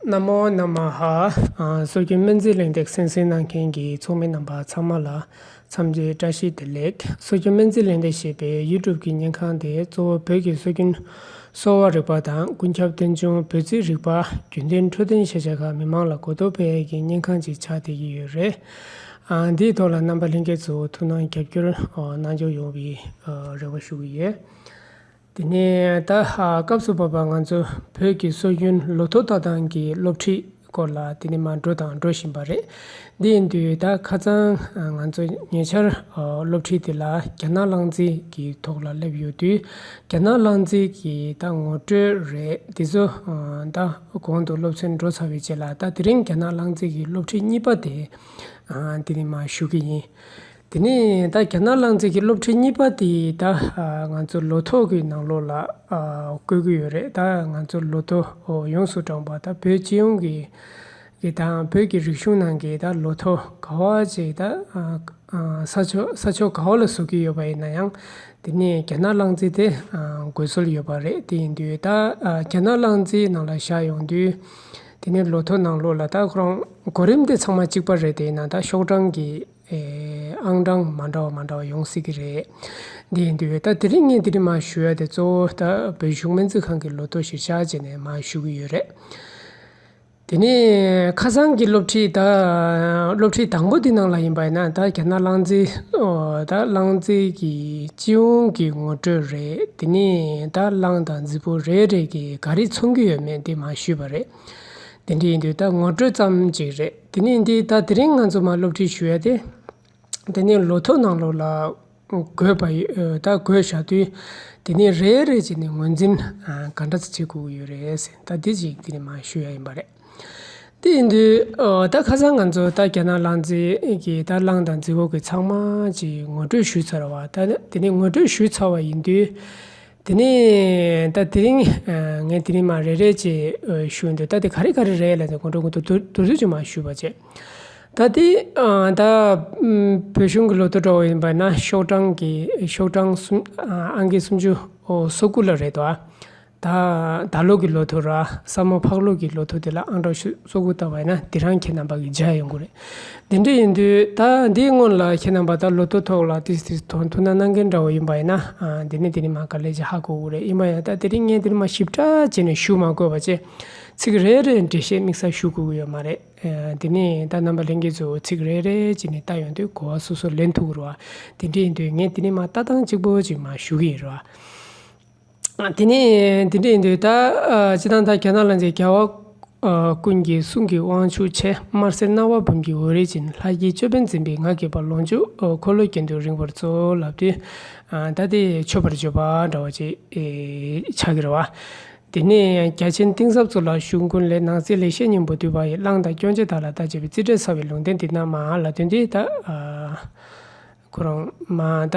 ན་མོ་ནམ་མ་ཧ། སྲོལ་རྒྱུན་སྨན་རྩིས་གླེང་སྟེགས་གསན་སྲིང་གནང་མཁན་གྱི་ཚོགས་མི་རྣམ་པ་ཚང་མ་ལ་འཚམས་འདྲིའི་བཀྲ་ཤིས་བདེ་ལེགས། སྲོལ་རྒྱུན་སྨན་རྩིས་གླེང་སྟེགས་ཞེས་པའི YouTube ཀྱི་བརྙན་ཁང་དེ་གཙོ་བོ་བོད་ཀྱི་སྲོལ་རྒྱུན་གསོ་བ་རིག་པ་དང་ཀུན་ཁྱབ་རྟེན་འབྱུང་བོད་རྩིས་རིག་པ་རྒྱུན་གཏན་འཕྲོད་བསྟེན་ཤེས་བྱ་ཁག་མི་མང་ལ་གོ་བསྡུར་སྤེལ་ཡས་ཀྱི་བརྙན་ཁང་ཅིག་ཆགས་བསྡད་ཀྱི་ཡོད་རེད། འདིའི་ཐོག་ལ་རྣམ་པ་ལྷན་རྒྱས་ཚོས་ཐུགས་སྣང་རྒྱབ་སྐྱོར་གནང་སྐྱོང་ཡོང་བའི་རེ་བ་ཞུ་གི་ཡོད། དེ་ནས་ད་ལྷག་སྐབས་སུ་བབ་པ་ང་ཚོ་བོད་ཀྱི་སྲོལ་རྒྱུན་ལོ་ཐོ་ལྟ་སྟངས་ཀྱི་སློབ་ཁྲིད་སྐོར་ལ་དེ་ནས་མ་འགྲོ་དང་འགྲོ་བཞིན་པ་རེད། འདི་ཡིན་དུས་ད་ཁ་ཚང་ང་ཚོ་ཉེ་ཆར་སློབ་ཁྲིད་དེ་ལ་རྒྱ་ནག་བླངས་རྩིས་ཀྱི་ཐོག་ལ་སླེབས་ཡོད་དུས་རྒྱ་ནག་བླངས་རྩིས་ཀྱི་ད་ངོ་སྤྲོད་རེད་དེ་ཚོ་ད་གོང་དུ་སློབ་ཚན་འགྲོ་ཚར་བའི་རྗེས་ལ་ད་དེ་རིང་རྒྱ་ནག་བླངས་རྩིས་ཀྱི་སློབ་ཁྲིད་གཉིས་པ་དེ་དེ་ནས་མ་ཞུ་གི་ཡིན། དེ་ནས་ད་རྒྱ་ནག་ལང་ཚེ་གི་སློབ་ཁྲིད་གཉིས་པ་དེ་ད་ང་ཚོ་ལོ་ཐོག་གི་ནང་ལོགས་ལ་བཀོད་གི་ཡོད་རེད་ད་ང་ཚོ་ལོ་ཐོ་ཡོངས་སུ་བགྲངས་པ་ད་བོད་སྤྱི་ཡོངས་ཀྱི་གི་དང་བོད་ཀྱི་རིག་གཞུང་ནང་གི་ད་ལོ་ཐོ་ག་བ་ཅིག་ད་ས་ཕྱོགས་ས་ཕྱོགས་ག་བ་ལ་བཟོ་གི་ཡོད་པ་ཡིན་ན་ཡང་དེ་ནས་རྒྱ་ནག་ལང་ཚེ་དེ་དགོས་སྲོལ་ཡོད་པ་རེད་དེ་ཡིན་དུས་ད་རྒྱ་ནག་ལང་ཚེ་ནང་ལ་བཞག་ཡོང་དུས་དེ་ནས་ལོ་ཐོ་ནང་ལོགས་ལ་ད་ཁོ་རང་གོ་རིམ་དེ་ཚང་མ་གཅིག་པ་རེད་དེ་ཡིན་ན་ད་ཤོག་གྲངས་ཀྱི་ཨང་གྲངས་མ་འདྲ་བ་མ་འདྲ་བ་ཡོང་སྲིད་ཀྱི་རེད། འདི་ཡིན་འདི་འོས་ད་དེ་རིང་ངས་དེ་རིང་མ་ཞུས་ཡ་དེ་གཙོ་བོ་ད་བོད་གཞུང་སྨན་རྩིས་ཁང་གི་ལོ་ཐོ་གཞིར་བཞག་བྱས་ནས་མ་ཞུ་གི་ཡོད་རེད། དེ་ནས་ཁ་སང་གི་སློབ་ཁྲིད་ད་སློབ་ཁྲིད་དང་པོ་དེ་ནང་ལ་ཡིན་པ་ཡིན་ན་ད་རྒྱ་ནག་གླང་རྩེད་ད་གླང་རྩེད་ཀྱི་སྤྱི་ཡོངས་ཀྱི་ངོ་སྤྲོད་རེད་དེ་ནས་ད་གླང་དང་རྫི་བོ་རེ་རེ་གིས་ག་རེ་ཚོང་གི་ཡོད་མེད་དེ་མ་ཞུས་པ་རེད། དེ་འདྲ་ཡིན་དུས་ད་ངོ་སྤྲོད་ཙམ་ཅིག་རེད། དེ་ནས་འདི་ལྟ་དེ་རིང་ང་ཚོ་མ་སློབ་ཁྲིད་ཞུ་ཡ་དེ། དེ་ནས་ལོ་ཐོ་ནང་ལོགས་ལ་འགོད་པ་ད་འགོད་བཞག་དུས། དེ་ནས་རེ་རེ་བྱས་ནས་ངོས་འཛིན་ག་འདྲ་བྱེད་དགོས་ཀྱི་ཡོད་རེད་ཟེར་ད་དེ་ཞིག་དེ་ནས་མ་ཞུ་ཡ་ཡིན་པ་རེད། དེ་ཡིན་དུས་ད་ཁ་སང་ང་ཚོ་ད་རྒྱ་ནག་གླང་རྫི་གི་ད་གླང་དང་རྫི་བོ་གི་ཚང་མ་གྱི་ངོ་སྤྲོད་ཞུས་ཚར་བ་ད་དེ་ནས་ངོ་སྤྲོད་ཞུས་ཚར་བ་ཡིན་དུས། དེ་ནས་ད་དེ་རིང་ངས་དེ་རིང་མ་རེད་རེད་ཅེས་ཞུས་འདུག་ད་དེ་ག་རེ་ག་རེ་རེད་ལབ་ནས་ཁོང་ཁྲོ་དགོད་དོ་དོ་དོད་ཅིག་མ་ཞུས་པ་བྱས། ད་དེ་ད་བོད་གཞུང་གི་ལོ་ཏོག་འགྲོ་བའི་བར་ན་ཤོག་གྲངས་ཀྱི་ཤོག་གྲངས་སུམ་ཨ་འགའི་སུམ་ཅུ་སོ་དགུ་ལ་རེད་དོ། ད་ད་ལོ་གི་ལོ་ཐོ་ར་སྲ་མོ་ཕག་ལོ་གི་ལོ་ཐོ་དེ་ལ་ཨང་གྲངས་ཤུ། གཙོ་དགུ་བཏགས་པས་ན་དེ་རང་ཁྱེད་རྣམས་པ་གི་རྗེས་ཡོང་གི་རེད། དེ་འདྲ་ཡིན་དུས་ད་འདིའི་སྔོན་ལ་ཁྱེད་རྣམས་པ་ད་ལོ་ཏོ་ཐོག་ལ་ཏིས་ཏིས་ཐོ་ཐུ་ན་གནང་གིན་འདྲ་བོ་ཡིན་པ་ཡིན་ན་དེ་ནས་དེ་རིང་མ་ག་ལེ་ཇི་ཧ་གོ་གི་རེད་ཡིན་པ་ཡང་ད་དེ་རིང་ངས་འདིར་མ་ཞིབ་ཕྲ་བྱས་ནས་ཞུ་མ་དགོས་པ་བཅས་ཚིག་རེ་རེ་འགྲེལ་བཤད་དམིགས་བསལ་ཞུ་དགོས་ཀྱི་ཡོད་མ་རེད། དེ་ནས་ད་རྣམ་པ་ལྷན་རྒྱས་ཚོས་ཚིག་རེ་རེ་བྱས་ནས་བལྟ་ཡོང་དུས་གོ་བ་སོ་སོར་ལེན་ཐུབ་གི་རེད་བ། དེ་འདྲ་ཡིན་དུས་ངས་དེ་རིང་མ་ལྟ་སྟངས་གཅིག་པོ་གཅིག་མ་ཞུ་གི་ཡོད་རེད་བ། དེ་ནས་འདི་འདྲ་ཡིན་དུས་ད་ཅི་སྟངས་ད་ག་ན་ལ་འཛེགས་རྒྱལ་བ་ཀུན་གྱི་གསུང་གི་དབང་ཕྱུག་ཆེན་དམར་སེར་སྣ་བ་འབུམ་གྱི་འོད་རིས་ཅན་ལྷ་དཀྱིལ་ཅོད་པན་འཛིན་པའི་ངག་གི་བར་ལོངས་སྤྱོད་འཁོར་ལོའི་རྒྱན་དུ་རིང་བར་ཚོགས་ལབ་དུས་ད་དེ་མཆོད་པར་བརྗོད་པ་འདྲ་བ་ཅིག་ཕྱག་གིར་བ། དེ་ནས་རྒྱ་ཆེན་གཏིང་ཟབ་ཚོགས་ལ་ཞུགས་ཀུན་ལས་སྣང་གསལ་ལེགས་བཤད་སྙིང་པོ་བསྡུས་པ་ཡི་གླང་དང་སྐྱོང་བྱེད་དག་ལ་བརྡ་བྱེད་པའི་རྩིས་འབྲས་ཚ་བའི་ལུང་བསྟན་འདི་རྣམས་མ་ལ་དོན་འདི་ལྟ། ཁོ་རང་མ་ད།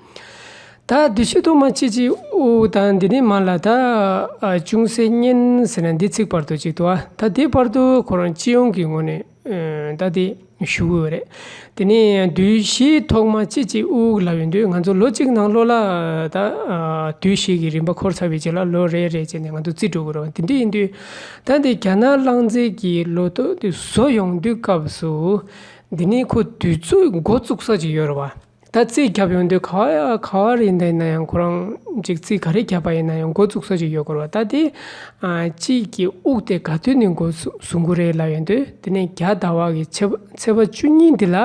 དག། འདི་ཕྱི་དུ་མ་ཅི་ཅི་ཨུ་ཨུ་དང་འདི་ནི་མ་ལ་དག། ཅུང་ཟད་མཉན་ཟེར་ན་འདི་ཚིག་བར་དོ་གཅིག་ཏུ་ཨ། ད་དེ་བར་དོ་ཁོ་རང་སྤྱི་ཡོངས་ཀྱི་ངོས་ནས་ད་དེ་ཞུ་གི་ཡོད་རེད། དེ་ནས་དུས་བཞི་ཐོག་མ་ཅི་ཅི་ཨུ་ཨུ་ལབ་ཡོང་དུས་ང་ཚོ་ལོ་གཅིག་ནང་ལོ་ལ་དག། དུས་བཞི་གི་རིམ་པ་འཁོར་ཚར་བའི་རྗེས་ལ་ལོ་རེ་རེ་བྱས་ནས་ང་ཚོ་རྩིས་འགྲོ་གི་རེད་དེ་འདྲ་ཡིན་དུས། ད་འདི་རྒྱ་ནག་རླངས་རྫས་ཀྱི་ལོ་ཏོག་དེ་བཟོ་ཡོང་དུས་སྐབས་སུ། འདི་ནི་ཁོ་དུས་ཚོད་འགོ་བཙུགས་ས་ཅིག་ཡོད་རེད་བ། ད་རྩིས་རྒྱབ་ཡོང་དུས་ག་ག་བ་རེད་འདི་ཡིན་ན་ཡང་ཁོ་རང་གཅིག་རྩིས་ག་རེ་རྒྱབ་པ་ཡིན་ན་ཡང་འགོ་བཙུགས་ས་ཞིག་ཡོད་སྐོར་བ་ལྟ་སྟེ། དཔྱིད་ཀྱི་དབུགས་དེ་ག་དུས་ནས་འགོ་བཟོ་འགོ་རེད་ལབ་ཡོང་དུས་དེ་ནས་རྒྱ་ཟླ་བ་གི་ཚེས་པ་བཅུ་གཉིས་འདི་ལ་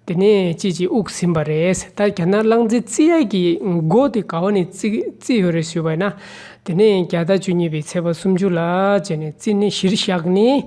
དེ་ནས་དཔྱིད་ཀྱི་དབུགས་ཟིན་པ་རེད་ཟེར་ད་རྒྱ་ནག་གླང་རྩེ་རྩིས་ར་གི་འགོ་དེ་ག་བ་ནས་བརྩིས་ཡོད་རེད་ཟེར་བ་ཡིན་ན་དེ་ནས་རྒྱ་ཟླ་བཅུ་གཉིས་པའི་ཚེས་པ་སུམ་ཅུ་ལ་བྱས་ནས་བརྩིས་ནས་གཞིར་བཞག་ནས་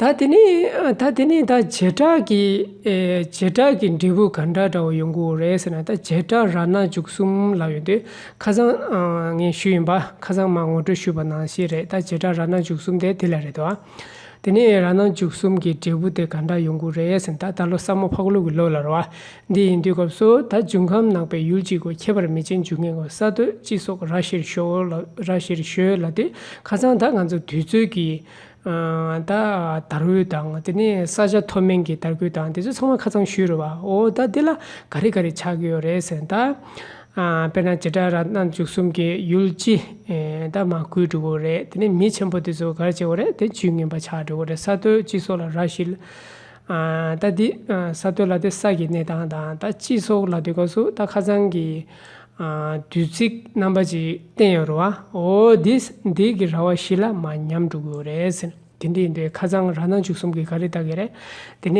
ད་དེ་ནས་ད་དེ་ནས་ད་བྱེ་བྲག་གི་བྱེ་བྲག་གི་འབྲས་བུ་ག་འདྲ་འདྲ་བོ་ཡོང་གི་འོ་རེད་ཟེར་ན་ད་བྱེ་བྲག་ར་ན་འཇུག་གསུམ་ལ་ཡོད་དུས་ཁ་སང་ངས་ཞུས་ཡིན་པ་ཁ་སང་མ་ངོ་སྤྲོད་ཞུས་པ་ནང་བཞིན་རེད་ད་བྱེ་བྲག་ར་ན་འཇུག་གསུམ་དེ་དེ་ལ་རེད་དོ། དེ་ནས་ར་ན་འཇུག་གསུམ་གྱི་འབྲས་བུ་དེ་ག་འདྲ་ཡོང་གི་རེད་ཟེར་ན་ད་ད་ལོ་ས་མོ་ཕག་ལུག་གི་ལོ་ལ་རོ། འདི་ཡིན་དུས་སྐབས་སུ་ད་འབྱུང་ཁམས་ནག་པའི་ཡུལ་གཅིག་གོ་ཁྱད་པར་མི་ཆེན་འབྱུང་ངེས་གོ་ས་སྟོད་སྤྱི་སོགས་ར་བཞིར་ཞོག་ར་བཞིར་ཞོལ་ལ་དུས་ཁ་སང་ད་ང་ཚོ་དུས་ཚོད་ཀྱི་ད་དར་གུད་དང་དེ་ནས་ས་ཆ་མཐོ་དམན་གྱི་དར་གུད་དང་དེ་ཚོ་ཚང་མ་ཁ་ཚང་ཞུས་རོགས་བ་ཨོ་ད་དེ་ལ་ག་རེ་ག་རེ་ཆགས་ཀྱི་ཡོད་རེད་ཟེར་ན་ད་དཔེར་ན་བྱེ་བྲག་རང་སྣང་འཇུག་གསུམ་གྱི་ཡུལ་སྤྱི་ད་མ་བསྐུལ་འགྲོ་གི་རེད་དེ་ནས་མི་ཆེན་པོ་དེ་ཚོ་ག་རེ་བྱེད་དགོས་རེད་དེ་ཇུས་ངན་པ་ཆགས་འགྲོ་གི་རེད་ས་མཐོའི་སྤྱི་ཚོགས་ལ་ར་བཞི་ལ་ད་འདི་ས་མཐོའི་ལ་དེ་ས་གི་གནས་སྟངས་དང་ད་སྤྱི་ཚོགས་ལ་དེ་ག་སུ་ད་ཁ་ཚང་གི་དུས་ཚིགས་རྣམ་པ་ཅིག་བསྟན་ཡོད་རུང་ཨོ་དེ་འདི་གི་ར་བ་བཞི་ལ་མ་ཉམས་འགྲོ་གི་རེད་ཟེར། དེ་འདྲའི་འདི་ཁ་ཚང་ར་ནང་བཅུ་གསུམ་གི་ག་རེ་བལྟ་གི་རེད། དེ་ནས་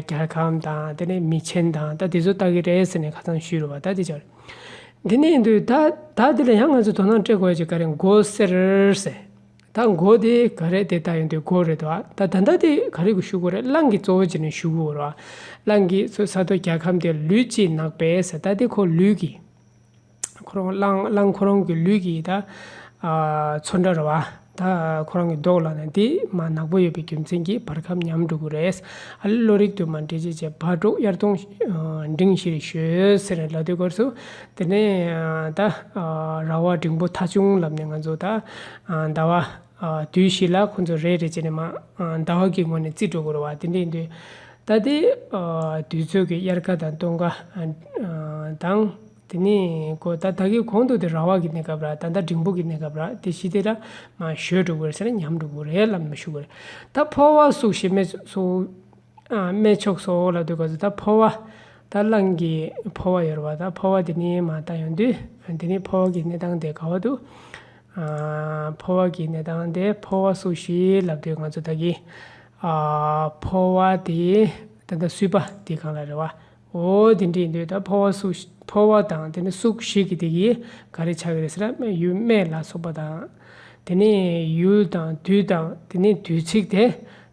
རྒྱ་གམ་དང་དེ་ནས་མི་ཆེན་དང་ད་དེ་ཚོ་བལྟ་གི་རེད་ཟེར་ནས་ཁ་ཚང་ཞུས་རུང་བ་ད་དེ་ཅག་རེད། དེ་ནས་འདི་ད་ད་འདི་ལ་ཡང་ང་ཚོས་དོ་སྣང་སྤྲད་དགོས་ཀྱི་ག་རེ་འགོ་ཟེར། ད་མགོ་དེ་ག་རེད་དེ་ལྟ་ཡོང་དུས་མགོ་རེད་དོ་ད་ད་ལྟ་དེ་ག་རེ་གི་ཤུག་གོ་རེད་གླང་གི་གཙོ་བོ་ཅི་ནས་ཤུག་གོ་རོ་གླང་གི་ཚོ་ས་དོ་རྒྱལ་ཁམས་དེ་ལུས་ཅི་ནག་པའི་ས་ད་དེ་ཁོ་ལུས་གི་ཁོ་རང་གླང་གླང་ཁོ་རང་གི་ལུས་གི་ད་ཚོ་འདྲ་རོ་ད་ཁོ་རང་གི་མདོག་ལ་ནི་དེ་མ་ནག་པོ་ཡོད་པའི་རྒྱུ་མཚན་གྱིས་བར་ཁམས་ཉམས་འགྲོ་གི་རེད་ཨ་ལས་བློ་རིག་དུ་མ་འདྲེས་བྱས་བྱས་བག་གྲོ་དབྱར་སྟོང་འབྲིང་ཞེས་ཞོལ་ཟེར་ལ་དུས་སྐོར་སུ་དེ་ནས་ད་ར་བ་འབྲིང་པོ་ཐ་ཆུང་ལབ་ནས་ང་ཚོ་ད་ཟླ་བ་དུས་ཤིག་ལ་ཁོ་ཚོ་རེད་རེད་བྱས་ནས་མ་ཟླ་བ་གི་སྔོན་ནས་རྩིས་སྤྲོད་དགོས་ར་བ་དེ་འདྲས་འདུག་ད་ལྟའི་དུས་ཚོད་ཀྱི་དབྱར་ཁ་དང་སྟོན་ཁ་དང། དེ་ནས་ད་ལྟ་གི་གོང་དུ་དེ་ར་བ་གི་གནས་སྐབས་ར་ད་ཟླ་འབྲིང་པོ་གི་གནས་སྐབས་ར་དེ་ཤི་དེ་ར་མ་ཞོས་འགྲོ་དགོས་ར་ཟེར་ན་ཉམས་འགྲོ་དགོས་རེད་ལབ་ནས་མ་ཞུ་དགོས་རེད་ད་ཕོ་བ་སུག་ཤེས་མེད་སུག་སྨད་ཕྱོགས་སུ་འོག་ལ་འདུག་ག་ཟེར་ད་འཕོ་བ། ད་རླངས་ཀྱི་འཕོ་བ་ཡོད་རེད་བ་ད་འཕོ་བ་དེ་ནི་མ་ད་ཡོང་དུས་དེ་ནི་འཕོ་བ་གི་གནས་སྟངས་དེ་ག་བ་འདུག་འཕོ་བ་གི་གནས་སྟངས་དེ་འཕོ་བ་སུ་ཞིག་ལབ་དུས་ང་ཚོ་ད་གི་འཕོ་བ་དེ་ད་ད་སུས་པ་དེ་གང་ལ་རེད་བ། འོ་དེ་འདྲས་འདོད་ད་ཕོ་བ་སུ་ཕོ་བ་དང་དེ་ནི་སུག་ཞིག་གི་དེ་གིས་ག་རེ་བྱ་གི་རེད་ཟེར་ན་སྨད་ཡུལ་སྨད་ལ་སོགས་པ་དང། དེ་ནི་ཡུལ་དང་དུས་དང་དེ་ནི་དུས་ཚིགས་དེ།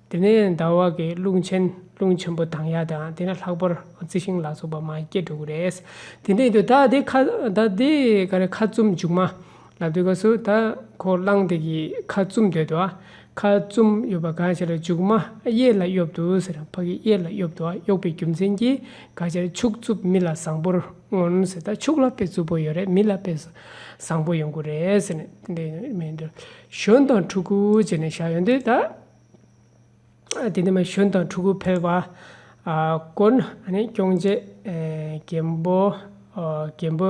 དེ་ནི་ཟླ་བ་གི་རླུང་ཆེན་རླུང་ཆེན་པོ་དང་ཡ་དང་དེ་ནི་ལྷག་པར་རྩི་ཤིང་ལ་སོགས་པ་མ་སྐྱེས་འགྲོ་གི་རེད། དེ་འདྲས་འདོད་ད་དེ་ཁ་ད་དེ་ག་རེ་ཁ་བཙུམ་འཇུག་མ་ལབ་དེ་ག་སུ་ད་ཁོ་གླང་དེ་གི་ཁ་བཙུམ་དོད་དོ་ཨ། ཁ་བཙུམ་གཡོབ་པ་གང་བྱས་ལ་འཇུག་མ་ཨ་གཡས་ལ་གཡོབ་དོ་ཟེར་ཕ་གི་གཡས་ལ་གཡོབ་དོ་ཨ་གཡོག་པའི་རྒྱུ་མཚན་གྱིས་ག་བྱས་ཕྱུགས་རྩུབ་མི་ལ་བཟང་པོར་མངོན་ཟེར་ད་ཕྱུགས་ལ་དཔེ་རྩུབ་པོ་ཡོད་རེད་མི་ལ་དཔེ་བཟང་པོ་ཡོང་གི་རེད་ཟེར་ནས་དེ་འདྲ་མི་འདྲ། གཞོན་དང་ཕྲུ་གུ་བྱས་ནས་བཞག་ཡོད་དོད་ད། དེ་འདྲ་མ་གཞོན་དང་ཕྲུ་གུ་ཕལ་པ་དཀོན་ཨ་ནི་སྐྱོང་བྱེད་རྒན་པོ་རྒན་པོ།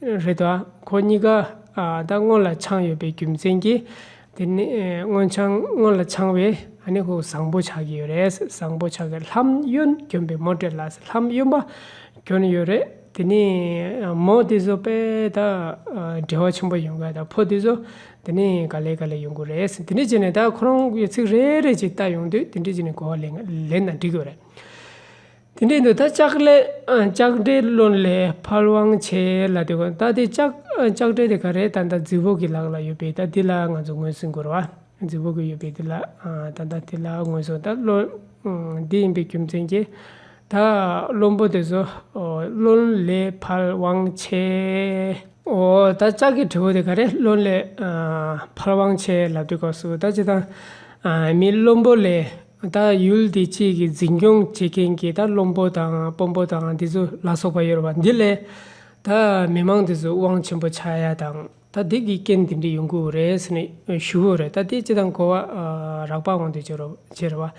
རེད་དོ། ཁོ་གཉིས་ཀ་ད་སྔོན་ལ་འཆང་ཡོད་པའི་རྒྱུ་མཚན་གྱིས། དེ་ནི་སྔོན་འཆང་སྔོན་ལ་འཆང་བས་ཨ་ནི་ཁོ་བཟང་པོ་ཆགས་ཀྱི་ཡོད་རེད། བཟང་པོ་ཆགས་ཀྱི་ལྷམ་གཡོན་གྱོན་པའི་མོ་དེ་ལ་ལྷམ་གཡོན་པ་གྱོན་ཡོད་རེད། དེ་ནས་མོ་དེ་ཚོ་དཔེ་ད་འབྲེལ་བ་ཆེན་པོ་ཡོང་གི་ད་ཕོ་དེ་ཚོ་དེ་ནས་ག་ལེ་ག་ལེ་ཡོང་གི་རེད། དེ་འདྲས་བྱས་ནས་ད་ཁོ་རང་གི་ཚིག་རེ་རེ་བཞིན་བལྟ་ཡོང་དུས་དེ་འདྲས་བྱས་ནས་གོ་བ་ལེན་ན་འགྲིག་གི་རེད། དེ་འདྲའི་འདོད་ཐ་ལྕགས་འདྲའི་བློ་ལས་ཕར་དབང་ཆེ་ལ་དེ་གོ། ད་དེ་ལྕགས་འདྲ་དེ་ག་རེ་ད་ལྟ་རྫི་བོ་གི་ལག་ལ་ཡོད་པས་ད་དེ་ལ་ང་ཚོ་ངོས་ཟིན་དགོས་ར་བ། རྫི་བོ་གི་ཡོད་པས་དེ་ལ་ད་ལྟ་དེ་ལ་ངོས་ཟུང་ད་བློ་འདི་ཡིན་པའི་རྒྱུ་མཚན་གྱིས། ད་བློན་པོ་དེ་ཚོ་བློ་ལས་ཕར་དབང་ཆེ། འོ་ད་ལྕགས་ཀྱི་གྲི་བོ་དེ་ག་རེ་བློ་ལས་ཕར་དབང་ཆེ་ལ་དེ་གོ་སོ་ད་ཇི་ལྟར་མི་བློན་པོ་ལས། ད་ཡུལ་འདི་གཅིག་གི་འཛིན་སྐྱོང་བྱེད་མཁན་གྱི་ད་བློན་པོ་དང་དཔོན་པོ་དང་འདི་ཚོ་ལ་སོགས་པ་ཡོད་རེད་བ་འདི་ལས། ད་མི་མང་འདི་ཚོས་དབང་ཆེན་པོ་ཆགས་ཡ་དང་ད་འདི་གི་རྐྱེན་འདི་འདྲི་ཡོང་གི་འོ་རེད་ཟེར་ནས་ཞུ་འོ་རེད་ད་དེ་སྤྱི་དང་གོ་བ་རག་པ་འོང་འདོད་ཅེ་རེད་བ།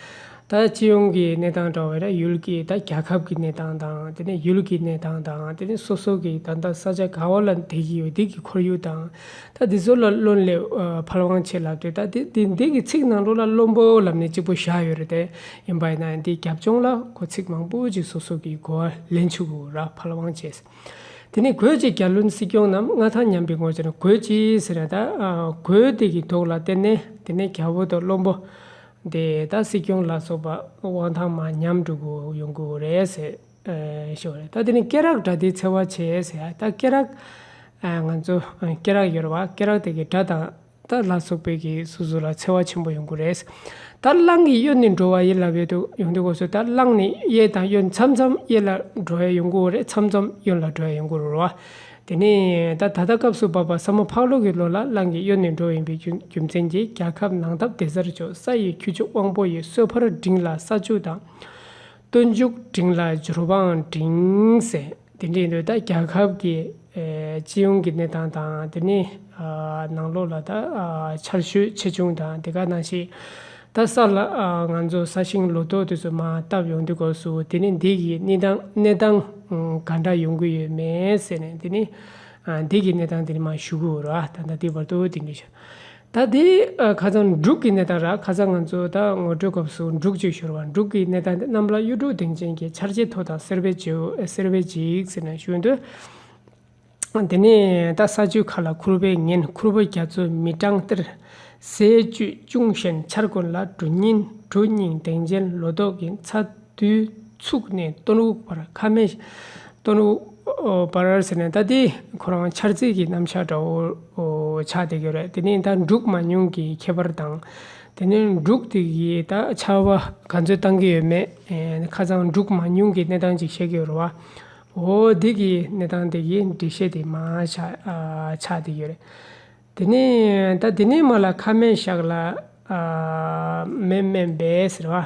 ད་སྤྱི་ཡོངས་ཀྱི་གནས་སྟངས་དྲ་བའི་ར་ཡུལ་གྱི་ད་རྒྱལ་ཁབ་ཀྱི་གནས་སྟངས་དང་དེ་ནས་ཡུལ་གྱི་གནས་སྟངས་དང་དེ་ནས་སོ་སོ་གྱི་ད་ད་ས་ཆ་ག་འོ་ལ་འདེད་ཀྱི་ཡོད་འདི་གི་ཁོར་ཡུག་དང། ད་འདི་ཚོ་ལ་བློན་ལས་ཕར་དབང་ཆེ་ལབ་སྟེ་ད་འདི་འདི་འདི་གི་ཚིག་ནང་དྲུག་ལ་བློན་པོ་ལབ་ནས་གཅིག་པོ་བཞག་ཡོད་རེད་དེ་ཡིན་པ་ཡིན་ན་འདི་རྒྱབ་ལྗོངས་ལ་གོ་ཚིག་མང་པོ་ཅིག་སོ་སོ་གིས་གོ་བ་ལེན་ཆུག་གོ་ར་ཕར་དབང་ཆེ། དེ་ནས་གོས་ཅེས་རྒྱ་བློན་སྲིད་སྐྱོང་རྣམས་མངའ་ཐང་ཉམས་པའི་ངོ་ཚ་ནས་གོས་ཅི་ཟེར་ན་ད་གོས་དེ་གི་མདོག་ལ་བལྟས་ནས་དེ་ནས་རྒྱ་བོ་དང་བློན་པོ་དེ་ད་སྲིད་སྐྱོང་ལ་སོགས་པ་དབང་ཐང་མ་ཉམས་འགྲོ་གི་ཡོང་གི་རེད་ཟེར། ཞོར་རེད་ད་དེ་ནི་སྐེ་རགས་སྒྲ་དེའི་འཚེ་བ་བྱེད་ཟེར་ཡ་ད་སྐེ་རགས། ང་ཚོ་སྐེ་རགས་ཡོད་རེད་བ་སྐེ་རགས་དེ་གི་སྒྲ་དང་ད་ལ་སོགས་པའི་གི་སོ་སོ་ལ་འཚེ་བ་ཆེན་པོ་ཡོང་གི་རེད། ད་གླང་གི་གཡོན་ནི་འགྲོ་བ་ཡིད་ལ་བས་དུ་ཡོང་དུས་གོ་སོ་ད་གླང་ནི་གཡས་དང་གཡོན་མཚམས་མཚམས་གཡས་ལ་འགྲོ་བས་ཡོང་གི་རེད་མཚམས་མཚམས་གཡོན་ལ་འགྲོ་བས་ཡོང་གི་རུ་བ། དེ་ནས་ད་ད་ལྟ་སྐབས་སུ་བབ་པ་ས་མོ་ཕག་ལོ་གི་ལོ་ལ་གླང་གི་གཡོན་ནི་འགྲོ་ཡིན་པའི་རྒྱུ་རྒྱུ་མཚན་གྱིས་རྒྱལ་ཁབ་ནང་སྟབས་བདེ་སར་བྱོས་ས་ཡི་ཁྱུ་མཆོག་དབང་པོ་ཡི་གསོལ་ཕར་བསྒྲིངས་ལ་ས་ཆུ་དང། སྟོན་མཇུག་སྒྲིལ་ལ་སྦྱོར་བའང་སྒྲིལ། དེ་འདྲའི་ཡིན་དུས་རྒྱལ་ཁབ་ཀྱི་སྤྱི་ཡོངས་ཀྱི་གནས་སྟངས་དང་དེ་ནས་ནང་ལོགས་ལ་ཆར་ཞོད་ཆེ་ཆུང་དང་དེ་ག་ནང་ཞིག་ད་གསར་ལ་ང་ཚོ་ས་ཞིང་ལོ་ཏོག་དེ་ཚོ་མ་བཏབ་ཡོང་དུས་སྐབས་སུ་དེ་ནི་འདི་གི་གནས་སྟངས་ག་འདྲ་ཡོང་གི་ཡོད་མེད་ཟེར་ནས་དེ་ནི་འདི་གི་གནས་སྟངས་དེ་ནི་མ་ཞུ་གི་འོ་ར་ད་ལྟ་དེའི་བར་དུ་དེ་འདྲའི་ཞོད་ད་དེ་ཁ་ཚང་འབྲུག་གི་གནས་སྟངས་ར་ཁ་ཚང་ང་ཚོ་ད་ངོ་སྤྲོད་སྐབས་སུ་འབྲུག་ཅེས་ཤོར་བ་འབྲུག་གི་གནས་སྟངས་འདི་གནམ་ལ་གཡུ་འབྲུག་གདེངས་ཅན་གྱི་ཆར་རྗེས་ཐོ་དང་སེར་བས་སེར་བས་འཇིགས་ཟེར་ནས་ཞུས་འདུག་དེ་ནས་ད་ས་ཆུ་ཁ་ལ་ཁུར་བའི་ངན་ཁུར་བོ་རྒྱ་མཚོ་མི་སྤྲང་གཏེར་ཟས་བཅུད་ཅུང་ཞན་ཆར་དགོན་ལ་གྲུ་རྙིང་གྲུ་རྙིང་གདེངས་ཅན་ལོ་ཏོག་གི་ཚ། དུས་ཚུགས་ནས་སྟོན་དབུགས་བར་ཁ་མེད། སྟོན་དབུགས་བར་ཟེར་ནས་ད་དེ་ཁོ་རང་འཆར་རྩིས་ཀྱི་རྣམ་བཞག་འདྲ་བོ་ཆགས་བསྡད་ཀྱི་རེད་དེ་ནི་ད་འབྲུག་མ་ཉུང་གི་ཁྱད་པར་དང། དེ་ནི་འབྲུག་དེ་གའི་ད་ཆ་བ་ག་ཚོད་བཏང་གི་ཡོད་མེད་ཁ་ཚང་འབྲུག་མ་ཉུང་གི་གནས་སྟངས་ཅིག་བཤད་ཀྱི་ཡོད་རེད་བ། འོ་དེ་གའི་གནས་སྟངས་དེ་གའི་འགྲེལ་བཤད་དེ་མ་ཆགས་བསྡད་ཀྱི་རེད། དེ་ནི་ད་དེ་ནས་མ་ལ་ཁ་མེད་ཞག་ལ་མེད་སྨན་པས་ཟེར་བ།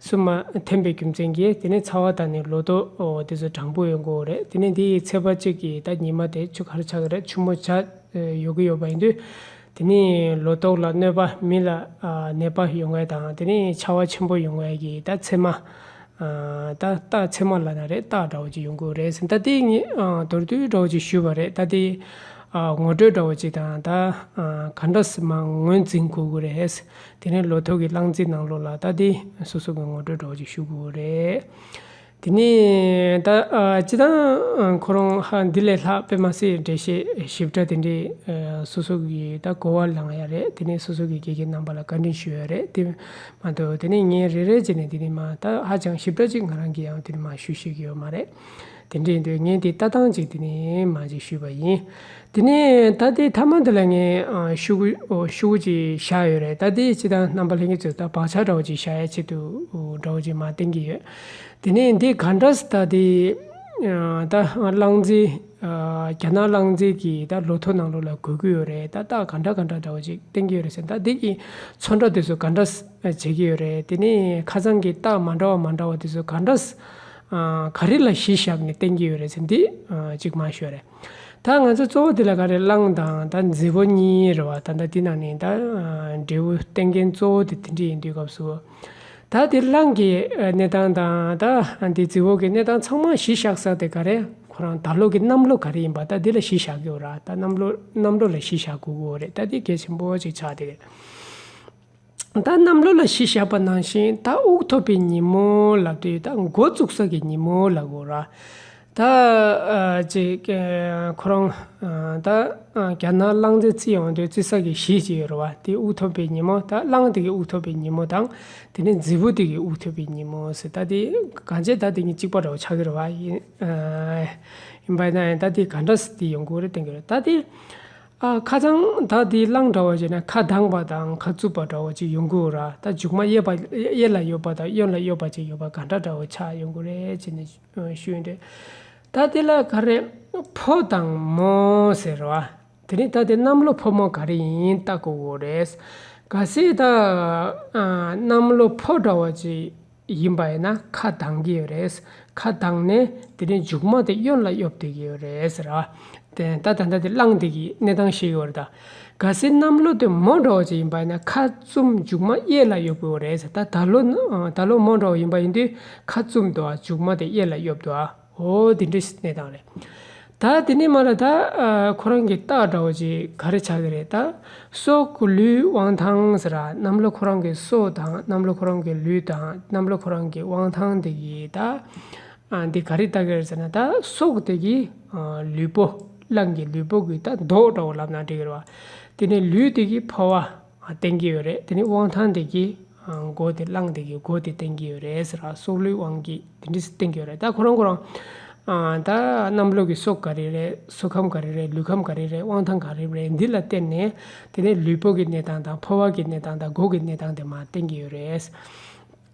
སུ་མ་ཐོན་པའི་རྒྱུ་མཚན་གྱིས་དེ་ནི་ཚ་བ་དང་ནི་ལོ་ཏོ་འོ་དེ་ཚོ་དྲང་པོ་ཡོད་མགོ་བོ་རེད་དེ་ནི་དེ་ཡི་ཚེ་བ་གཅིག་གི་ད་ཉི་མ་དེ་ཆུ་ཁར་ཆག་གི་རེད་ཆུ་མོ་བྱ་ཡོད་ཀྱི་ཡོད་པ་ཡིན་དུས་དེ་ནི་ལོ་ཏོག་ལ་གནོད་པ་མི་ལ་ནད་པ་ཡོང་བའི་དང་དེ་ནི་ཆ་བ་ཆེན་པོ་ཡོང་བའི་གྱི་ད་ཚེ་མ་ད་རྟགས་ཚེ་མ་ལ་ན་རེ་རྟགས་འདྲ་བོ་ཅིག་ཡོང་གི་རེད་ཟེར་ད་དེ་ངས་མདོར་བསྡུས་འདྲ་བོ་ཅིག་ཞུས་པ་རེད་ད་དེ་ངོ་སྤྲོད་འདྲ་བོ་ཅིག་དང་ད་ག་འདྲ་སི་མ་ངོས་འཛིན་དགོས་ཀྱི་རེད་དེ་ནས་ལོ་ཐོག་གི་བླངས་རྩིས་ནང་ལོགས་ལ་བལྟ་སྟེ་སོ་སོ་གི་ངོ་སྤྲོད་སྒྲོག་ཅིག་ཞུ་དགོས་རེད། དེ་ནས་ད་ཅི་ད་ཁོ་རང་ཧ་འདི་ལས་ལྷག་དཔེ་མ་སྲིད་འགྲེལ་བཤད་ཞིབ་ཕྲ་དེ་འདྲའི་སོ་སོ་གི་ད་གོ་བ་ལངས་ཡ་རེད་དེ་ནས་སོ་སོ་གི་དགེ་རྒན་རྣམ་པ་ལ་བཀའ་དྲིན་ཞུ་ཡ་རེད་དེ་མ་གཏོགས་དེ་ནས་ངས་རེ་རེ་བྱས་ནས་དེ་ནས་མ་ད་ཧ་ཅང་ཞིབ་ཕྲ་ཅིག་ང་རང་གིས་ཡང་དེ་ནས་མ་ཞུ་ཤེས་ཀྱི་ཡོད་མ་རེད། དེ་འདྲའི་འདོད་ངན་དེ་ལྟ་སྟངས་ཅིག་དེ་ནས་མ་གཅིག་ཞུས་པ་ཡིན། དེ་ནས་ད་ལྟའི་ཐ་མ་འདི་ལ་ངས་ཤུ་གུ་ཤུ་གུ་ཅིག་བཞག་ཡོད་རེད་ད་ལྟའི་སྤྱི་བཏང་རྣམ་པ་ལྷན་སྐྱེས་ཚོས་ད་བག་ཆགས་འདྲ་བོ་ཅིག་བཞག་ཡ་ཆེད་དུ་འདྲ་བོ་ཅིག་མ་བསྟན་གྱི་ཡོད། དེ་ནས་འདི་ག་འདྲ་ད་ལྟའི་ད་གླང་རྫི་རྒྱ་ནག་གླང་རྫི་གི་ད་ལོ་ཐོ་ནང་ལོགས་ལ་གོ་གི་ཡོད་རེད་ད་རྟགས་ག་འདྲ་ག་འདྲ་འདྲ་བོ་ཅིག་བསྟན་གྱི་ཡོད་རེད་ཟེར་ད་འདི་གི་ཚོ་འདྲ་དེ་ཚོ་ག་འདྲ་བྱེད་ཀྱི་ཡོད་རེད་དེ་ནས་ཁ་ཚང་གི་རྟགས་མ་འདྲ་བ་མ་འདྲ་བ་དེ་ཚོ་ག་འདྲ། ག་རེ་ལ་གཞི་བཞག་ནས་བསྟན་གྱི་ཡོད་རེད་ཟེར་འདི་གཅིག་མ་ཤོད་རེད། ད་ང་ཚོ་གཙོ་བོ་དེ་ལ་ག་རེ་བླངས་དང་ད་མཛེས་པོ་གཉིས་རེད་བ་ད་ད་དེ་ནང་ནས་ད་འབྲས་བུ་བསྟན་མཁན་གཙོ་བོ་དེ་དེ་འདྲས་ཡིན་དུས་སྐབས་སུ། ད་དེ་བླངས་ཀྱི་གནས་སྟངས་དང་ད་དེ་མཛེས་བོ་གི་གནས་སྟངས་ཚང་མ་གཞི་བཞག་ས་དེ་ག་རེ་ཁོ་རང་ད་ལོ་གི་གནམ་ལོ་ག་རེ་ཡིན་པ་ད་དེ་ལ་གཞི་བཞག་གི་འོ་ར་ད་གནམ་ལོ་གནམ་ལོ་ལ་གཞི་བཞག་དགོས་གི་འོ་རེད་ད་དེ་གལ་ཆེན་པོ་གཅིག་ཆགས་དེ་རེད། ད་གནམ་ལོ་ལ་གཞི་བཞག་པ་ནང་བཞིན་ད་དབུགས་ཐོབ་པའི་ཉིན་མོ་ལ་དུས་ད་མགོ་བཙུགས་ས་གི་ཉིན་མོ་ལ་གོ་ར། ད། ཅེས། ཁོ་རང། ད། གྱ་ནང་གླང་རྫས་བརྩི་ཡོང་དུས་བརྩི་ས་གི་གཞི་བཅས་ཡོད་ར་བ་དེ་དབུགས་ཐོབ་པའི་ཉིན་མོ་ད་གླང་དེ་གི་དབུགས་ཐོབ་པའི་ཉིན་མོ་དང་དེ་ནས་རྫི་བོ་དེ་གི་དབུགས་ཐོབ་པའི་ཉིན་མོ་ཟེར་ད་དེ་ག་བྱེད་ད་དེ་གཉིས་གཅིག་པ་རེད་བ་ཆགས་ཀྱི་རེད་བ་ཡིན། ཡིན་པ་ཡིན་ན་ཡང་ད་དེ་ག་འདྲ་སི་ཏི་ཡོང་གི་རེད་བསྟན་གྱི་རེད་ད་དེ། ཨ་ཁ་ཚང་ད་དེའི་གླང་འདྲ་བ་བྱས་ན་ཁ་གདངས་པ་དང་ཁ་རྩུབ་པ་འདྲ་བ་ཅིག་ཡོང་གི་འོ་ར་ད་མཇུག་མ་གཡས་པ་གཡས་ལ་ཡོད་པ་དང་གཡོན་ལ་གཡོགས་པ་ཅིག་ཡོད་པ་ག་འདྲ་འདྲ་བ་ཆགས་ཡོང་གི་རེད་ཅེས་ནས་ཞུས་ཡོད་རེད། ད་དེ་ལ་ག་རེ་ཕོ་དང་མོ་ཟེར་བ་དེ་རིང་ད་དེ་གནམ་ལོ་ཕོ་མོ་ག་རེ་ཡིན་ཡིན་བལྟ་གི་འོ་རེད། ག་སྲིད་ད་གནམ་ལོ་ཕོ་འདྲ་བ་ཅིག་ཡིན་པ་ཡིན་ན་ཁ་གདངས་ཀྱི་ཡོད་རེད། ཁ་གདངས་ནས་དེ་ནས་མཇུག་མ་དེ་གཡོན་ལ་གཡོབ་བསྡད་ཀྱི་ཡོད་རེད་ཟེར། ད་ད་ལྟ་དེ་བསླངས་བསྡད་ཀྱི་གནས་སྟངས་ཤིག་ཡོད་རེད། ག་སྲིད་གནམ་ལོ་དེ་མང་དྲགས་བ་ཅིག་ཡིན་པ་ཡིན་ན་ཁ་བཙུམ་མཇུག་མ་གཡས་ལ་གཡོབ་དགོས་རེད། ད་ད་ལོ་མང་དྲགས་བ་ཡིན་པ་ཡིན་དུས་ཁ་བཙུམ་དུ་བ་མཇུག་མ་དེ་གཡས་ལ་གཡོབ་དུ་བ། ཨོ་དེ་འདྲའི་གནས་སྟངས་རེད། ད་དེ་ནས་མ་ལ་ད་ཁོ་རང་གི་སྟག་འདྲ་བོ་ཅིག་ག་རེ་ཆགས་ཀྱི་རེད་ད། སྲོག་གི་ལུས་དབང་ཐང་ཟེར་ར་གནམ་ལོ་ཁོ་རང་གི་སྲོག་དང་གནམ་ལོ་ཁོ་རང་གི་ལུས་དང་གནམ་ལོ་ཁོ་རང་གི་དབང་ཐང་དེ་གི་ད་འདི་ག་རེ་ལྟ་གི་རེད་ཟེར་ན་ད་སྲོག་དེ་གི་ལུས་པོ་རླངས་ཀྱི་ལུས་པོ་གི་ད་མདོག་འདྲ་བོ་ལབ་ན་འགྲིག་གི་རེད་བ། དེ་ནས་ལུས་དེ་གི་ཕོ་བ། བསྟན་གྱི་ཡོད་རེད་དེ་ནི་དབང་ཐང་དེ་གིས་མགོ་དེ་བླངས་དེ་གིས་མགོ་དེ་བསྟན་གྱི་ཡོད་རེད་ཟེར་ར་སྲོག་བླུའི་དབང་གིས་དེ་འདྲི་བསྟན་གྱི་ཡོད་རེད་ད་ཁོ་རང་ཁོ་རང་ད་རྣམ་བློ་གི་སྲོག་ག་རེ་རེད་སྲོག་ཁམས་ག་རེ་རེད་ལུས་ཁམས་ག་རེ་རེད་དབང་ཐང་ག་རེ་རེད་འདི་ལ་བསྟན་ནས་དེ་ནས་ལུས་པོ་གི་གནས་སྟངས་དང་ཕོ་བ་གི་གནས་སྟངས་དང་མགོ་གི་གནས་སྟངས་དེ་མ་བསྟན་གྱི་ཡོད་རེད།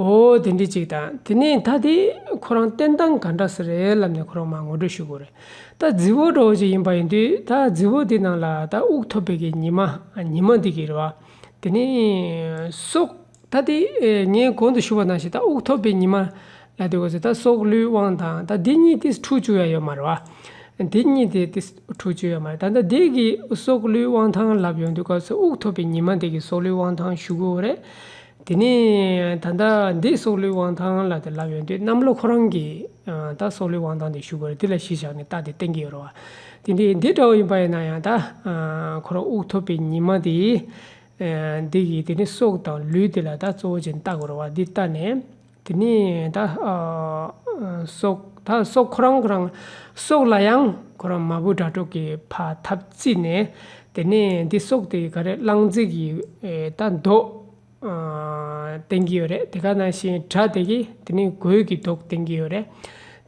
འོ་དེ་འདྲའི་ཅིག་དང་དེ་ནས་ད་དེ་ཁོ་རང་བསྟན་སྟངས་ག་འདྲ་ཟེར་རེད་ལབ་ནས་ཁོ་རང་མ་ངོ་སྤྲོད་ཞུ་དགོས་རེད་ད་རྫི་བོ་འདྲ་བོ་ཅིག་ཡིན་པ་ཡིན་དུས་ད་རྫི་བོ་དེ་ནང་ལ་ད་དབུགས་ཐོབ་པའི་གི་ཉི་མ་ཉི་མ་འདི་གི་རེད་བ་དེ་ནས་སྲོག་ད་དེ་ངས་གོང་དུ་ཞུ་བ་ནང་བཞིན་ད་དབུགས་ཐོབ་པའི་ཉི་མ་ལ་དེ་བས་སོ་ད་སྲོག་བླུའི་དབང་དང་ད་དེ་གཉིས་དེ་འཁྲུག་བཅུག་ཡ་ཡོད་མ་རེད་བ་དེ་གཉིས་དེ་དེ་འཁྲུག་བཅུག་ཡ་མ་རེད་ད་ད་དེ་གི་སྲོག་བླུའི་དབང་ཐང་ལབ་ཡོང་དུས་སྐབས་སུ་དབུགས་ཐོབ་པའི་ཉི་མ་དེ་གི་སྲོག་བླུའི་དབང་ཐང་ཞུ་དགོས་རེད། དེ་ནས་ད་ལྟ་འདི་སྲོག་ལུས་དབང་ཐང་ལ་དེ་ལབ་ཡོང་དུས་གནམ་ལོ་ཁོ་རང་གིས་ད་སྲོག་ལུས་དབང་ཐང་དེ་བཞུགས་པར་དེ་ལ་གཞི་བཞག་ནས་རྟགས་དེ་བསྟན་གྱི་ཡོད་རོ། དེ་འདི་འདི་འདྲ་བོ་ཡིན་པ་ཡིན་ན་ཡང་ད་ཁོ་རང་དབུགས་ཐོབ་པའི་ཉི་མ་དེ་འདི་གིས་དེ་ནི་སྲོག་དང་ལུས་དེ་ལ་ད་གཙོ་བོ་ཅན་བརྟག་དགོས་རོ་བ་འདི་བརྟགས་ནས། དེ་ནས་ད་སོགས་ད་སོགས་ཁོ་རང་ཁོ་རང་སོགས་ལ་ཡང་ཁོ་རང་མ་བུ་དྲ་གྲོགས་ཀྱི་ཕ་ཐབས་བརྩིས་ནས་དེ་ནས་འདི་སོགས་དེ་ག་རེ་གླང་རྫི་གི་ད་མདོག་བསྟན་གྱི་ཡོད་རེད་དེ་ག་ནང་བཞིན་དྲ་དེ་གི་དེ་ནས་གོས་ཀྱི་མདོག་བསྟན་གྱི་ཡོད་རེད་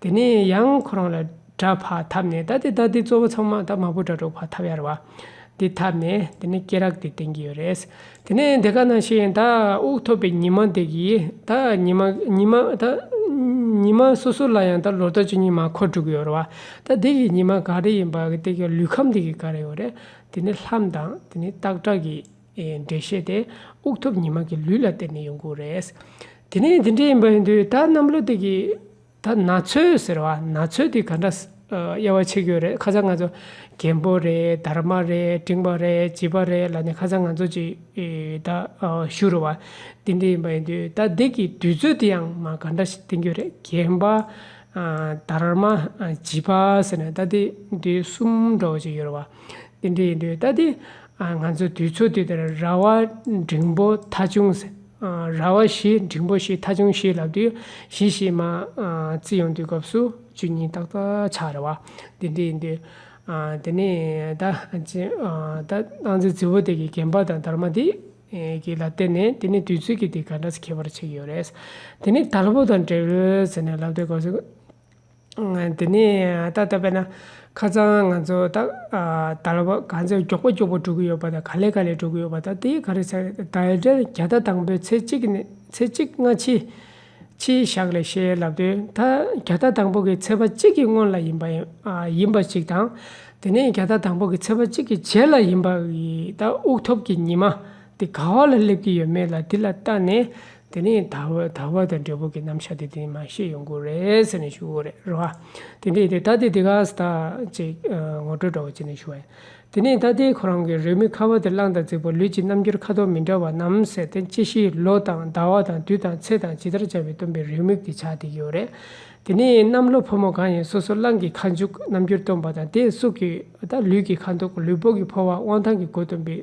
དེ་ནས་ཡང་ཁོ་རང་ལ། དྲ་བ་འཐབ་ནས་ད་ལྟའི་ལྟ་དེ་གཙོ་བོ་ཚང་མ་ད་མ་བུ་དྲ་གྲོགས་བར་འཐབ་ཡར་བ། དེ་འཐབ་ནས་དེ་ནས་སྐེ་རགས་དེ་བསྟན་གྱི་ཡོད་རེད། དེ་ནས་དེ་ག་ནང་ཤེས་ཡོན་ད་དབུགས་ཐོབ་པའི་ཉི་མ་དེ་གིས་ད་ཉི་མ་ཉི་མ་ད་ཉི་མ་སོ་སོ་ལ་ཡང་ད་ལོ་ད་ཆུ་ཉི་མ་འཁོར་དྲུག་ཡོད་རེད་བ། ད་དེ་གི་ཉི་མ་ག་རེ་ཡིན་པ་དེ་གི་ལུས་ཁམས་དེ་གི་ག་རེ་ཡོད་རེད། དེ་ནས་ལྷམ་དང་དེ་ནས་སྟག་སྒྲ་གི་འགྲེལ་བཤད་དེ་དབུགས་ཐོབ་ཉི་མ་གི་ལུས་ལ་བརྟེན་ནས་ཡོང་གི་རེད། དེ་ནས་དེ་འདྲ་ཡིན་པ་ཡིན་དུས་ད་གནམ་ལོ་དེ་གི། ད་ན་ཚོད་ཟེར་བ་ན་ཚོད་དེ་ག་འདྲ་དབྱེ་བ་ཕྱེ་རྒྱུ་རེད་ཁ་ཚ་ང་ཚོ་རྒན་པོ་རེད་དར་མ་རེད་འབྲིང་པ་རེད་བྱིས་པ་རེད་ལ་ནི་ཁ་ཚ་ང་ཚོ་ཅིག་ད་བཞུགས་རུ་བ་འདི་འདི་ཡིན་པ་ཡིན་དུས་ད་འདི་གི་དུས་ཚོད་དེ་ཡང་མ་ག་འདྲ་ཞིག་བསྟན་རྒྱུ་རེད་རྒན་པ་དར་མ་བྱིས་པ་ཟེར་ན་ད་འདི་འདི་གསུམ་འདྲ་བོ་ཅིག་ཡོད་རུ་བ་འདི་འདྲ་ཡིན་དུས་ད་འདི་ང་ཚོ་དུས་ཚོད་དེ་དེར་ར་བ་འབྲིང་པོ་ཐ་ཆུང་ཟེར། ར་བ་བཞི་འབྲིང་པོ་བཞི་ཐ་ཆུང་བཞི་ལབ་དུས་བཞི་ཞེས་མ་རྩི་ཡོང་དུས་སྐབས་སུ་བཅུ་གཉིས་ཏག་ཏག་ཆགས་ར་བ་དེ་འདྲ་ཡིན་དུས། དེ་ནས་ད་སྣང་ཚེ་རྫི་བོ་དེ་གའི་རྒན་པ་དང་དར་མ་དེ་གའི་ལ་བལྟས་ནས་དེ་ནི་དུས་ཚོད་ཀྱིས་དེ་ག་འདྲ་ཁྱད་པར་ཆེ་གི་ཡོད་རེད། དེ་ནས་དལ་བུ་དང་བྲེལ་བས་ཟེར་ནས་ལབ་དུས་སྐབས་སུ། དེ་ནས་ད་ལྟ་བས་ན་ཁ་སང་ང་ཚོ་ད་ད་ལོ་ག་ཚོད་མགྱོགས་པོ་མགྱོགས་པོ་འགྲོ་གི་ཡོད་པ་དང་ག་ལེ་ག་ལེ་འགྲོ་གི་ཡོད་པ་དང་དེ་ག་རེ་ཚར་ད་དྲན་བརྒྱ་ད་དང་པོའི་ཚེས་གཅིག་ནས་ཚེས་གཅིག་སྔ་ཕྱི་ཕྱིའི་ཞག་ལས་བྱས་ལབ་དུས་ད་བརྒྱ་ད་དང་པོ་གི་ཚེས་པ་གཅིག་གི་སྔོན་ལ་ཡིན་པ་ཡིན་པ་ཞིག་དང་དེ་ནས་བརྒྱ་ད་དང་པོ་གི་ཚེས་པ་གཅིག་གི་རྗེས་ལ་ཡིན་པ་ཡི་ད་དབུགས་ཐོབ་ཀྱི་ཉི་མ་དེ་ག་བ་ལ་སླེབས་ཀྱི་ཡོད་མེད་ལ་དེ་ལ་བལྟ་ནས་དེ་ནས་དར་བ་དང་འབྲས་བུ་གི་རྣམ་གཞག་དེ་དེ་མ་ཤེས་ཡོང་གི་རེད་ཟེར་ནས་ཞུ་གི་རེད་རེད་བ། དེ་འདྲས་ད་ལྟའི་དེ་ག་ཟེ་ད་ཅིག་ངོ་སྤྲོད་འདྲ་བོ་བྱས་ནས་ཞུ་བ་ཡིན། དེ་ནས་ད་ལྟའི་ཁོ་རང་གི་རེ་མིག་ཁ་བ་དེ་གླང་དང་རྫིག་པོ་ལུས་ཀྱི་རྣམ་འགྱུར་ཁ་དོག་མི་འདྲ་བ་རྣམས་ཟེར་ཏེ་ཅི་ཞིག་ལོ་དང་ཟླ་བ་དང་དུས་དང་ཚེས་དང་ཇི་ལྟར་བྱ་བའི་སྟོན་པའི་རེའུ་མིག་དེ་ཆགས་བསྡད་ཀྱི་ཡོད་རེད། དེ་ནས་གནམ་ལོ་ཕོ་མོ་གང་ཡིན་སོ་སོ་གླང་གི་ཁ་མཇུག་རྣམ་འགྱུར་སྟོན་པ་དང་དེས་སུག་གི་ལུས་ཀྱི་ཁ་མདོག་ལུས་པོ་གི་ཕོ་བ་དབང་ཐང་གི་སྒོ་སྟོན་པའི